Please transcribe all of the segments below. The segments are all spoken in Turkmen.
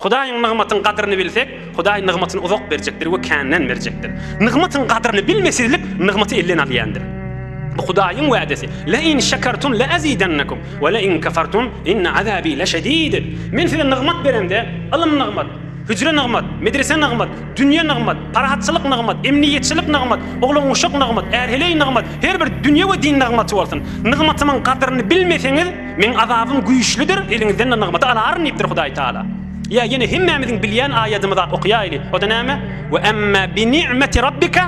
Hudaýyň nygmatyň gadyryny bilsek, Hudaý nygmatyny uzak berjekdir we känden berjekdir. Nygmatyň gadyryny bilmesizlik nygmaty elden alýandyr. Bu Hudaýyň wädesi, Le in şekertum le azidennekum we le in kefertum inne azabi leşedid. Men size nygmat beremde, ylym nygmat, hüjre nygmat, medrese nygmat, dünýe nygmat, parahatçylyk nygmat, emniýetçilik nygmat, oglan-uşak nygmat, är-heleý nygmat, her bir dünýe we din nygmaty bolsun. Nygmatymyň gadyryny bilmeseňiz, Meň azabym güýçlüdir, eliňizden-de nygmaty alaryn diýipdir Hudaý Tagala. Ýa ýene hemmämiziň bilýän aýadymyzy ak okaýaýly, o-da näme? Ve emme bi ni'meti rabbike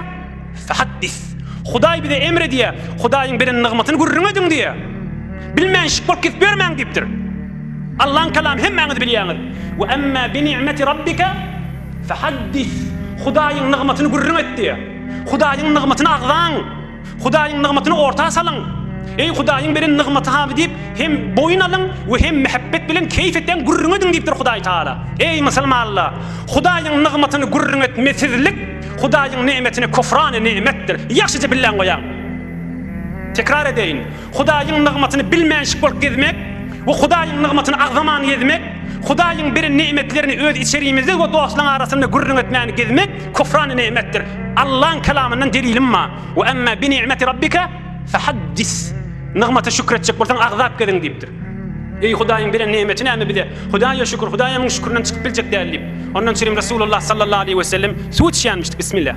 fehaddis. Hudaý bize emr edýär, Hudaýyň beren nygmatyny gürrüň ediň diýýär. Bilmänşik bolup kesip ýörmäň diýipdir. Allaň kalamy hemmäňiz bilýäňiz. Ve emme bi ni'meti rabbike fehaddis. Hudaýyň nygmatyny gürrüň et diýýär. Hudaýyň nygmatyny agzaň. Hudaýyň nygmatyny orta salyň. Eý, Hudaýyň beren nygmaty hamy diýip, hem boýun alyň we hem mähebbet bilen keýp etseň, gürrüň ediň diýipdir Hudaý Tagala. Eý, musulmanlar! Hudaýyň nygmatyny gürrüň etmesizlik Hudaýyň nemetine küfrana nemetdir. Ýagşyja billäň goýaň. Tekrar edeýin. Hudaýyň nygmatyny bilmänşik bolup gezmek we Hudaýyň nygmatyny agzaman gezmek, Hudaýyň beren ne'metlerini öz içerimizde we dostlaň arasynda gürrüň etmän gezmek küfrany ne'metdir. Allaň Kelamyndan delilim ma, Ve emmâ bi ni'meti Rabbike fehaddis. Nygmata şükür etjek bolsaň agzap geziň diýipdir. Eý Hudaýyň beren ne'meti näme bize? Hudaýa şükür, Hudaýa müň şükürden çykyp biljek däl diýip. Ondan çirim Resulullah sallallahu aleýhi we sellem suw içýänmişdi. Bismillah.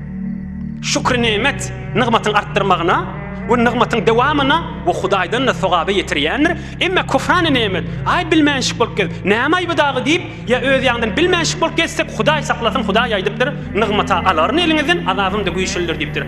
Şükri nemet nygmatyň artdyrmagyna we nygmatyň dowamyna we Hudaýdan-da sogaba ýetirýändir, emma küfrani nemet, Aý, bilmänşik bolup gez, näme aýby dagy diýip, ýa öz ýaňdan bilmänşik bolup gezsek, Hudaý saklasyn, Hudaý aýdypdyr, Nygmat-a alaryn eliňizden, azabym-da güýçlidir diýipdir.